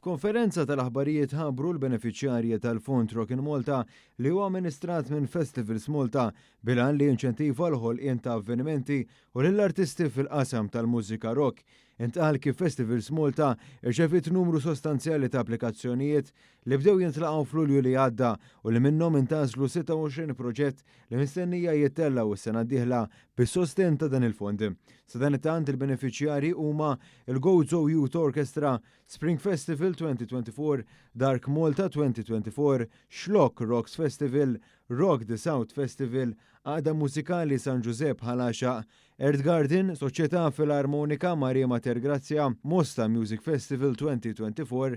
F'konferenza tal-aħbarijiet ħabbru l-benefiċjarji tal-Fond Rockin' Malta li huwa amministrat minn Festivals Malta bil-għan li jinċentiva l-ħolqien ta' avvenimenti u lill-artisti fil-qasam tal-mużika rock. Intqal kif Festivals Malta rċeviet numru sostanzjali ta' applikazzjonijiet li bdew jintlaqgħu f'Lulju li għadda u li minnhom intgħażlu 26 proġett li mistennija jittellgħu s-sena d-dieħla bis-sostenn ta' dan il-fond. Sadanittant il-benefiċjarji huma l-Gozo Youth Orchestra, Spring Festival 2024, Dark Malta 2024, Xlokk Rocks Festival, Rock the South Festival, Għaqda Mużikali San Ġużepp Ħal Għaxaq, Earth Garden, Soċjetà Filarmonika Marie Mater Grazia, Mosta Music Festival 2024,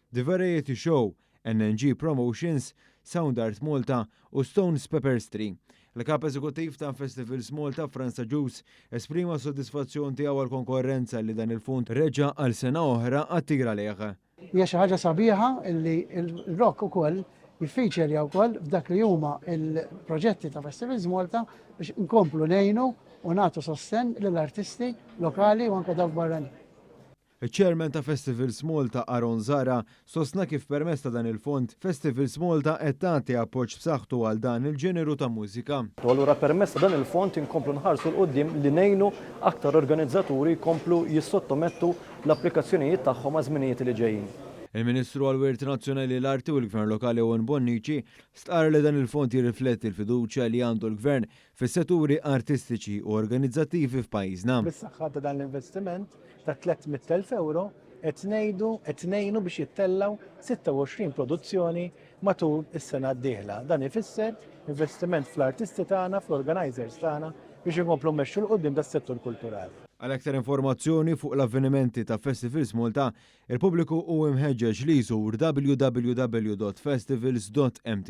The Variety Show, NNG Promotions, Sound Art Malta u Stones Pepperstree. Il-Kap Eżekuttiv ta' Festivals Malta, Frans Agius, esprima s-sodisfazzjon tiegħu għall-konkorrenza li dan il-fond reġa' għal sena oħra attir għalih. Hija xi ħaġa sabiħa li l-rock ukoll jiffeaturja wkoll f'dak li huma l-proġetti ta' Festivals Malta biex inkomplu ngħinu u nagħtu sostenn lill-artisti lokali u anke dawk barranin. Iċ-Chairman ta' Festivals Malta Aaron Zahra sostna kif permezz ta' dan il-fond, Festivals Malta qed tagħti appoġġ b'saħħtu għal dan il-ġeneru ta' mużika. U allura permezz ta' dan il-fond inkomplu nħarsu 'l quddiem li ngħinu aktar organizzaturi jkomplu jissottomettu l-applikazzjonijiet tagħhom għaż-żminijiet li ġejjin. Il-Ministru għall-Wirt Nazzjonali, l-Arti u l-Gvern Lokali Owen Bonnici stqarr li dan il-fond jirrifletti l-fiduċja li għandu l-Gvern fis-seturi artistiċi u organizzattivi f'pajjiżna. Bis-saħħa ta' dan l-investiment ta' tlett mitt elf ewro qed ngħidu qed ngħinu biex jittellgħu sitta u għoxrin produzzjoni matul is-sena d-dieħla. Dan ifisser investiment fl-artisti tagħna, fl-organizers tagħna biex inkomplu mmexxu 'l quddiem das-settur kulturali. Għal aktar informazzjoni fuq l-avvenimenti ta' Festivals Malta, il-pubbliku hu imħeġġeġ li jżur www.festivals.mt.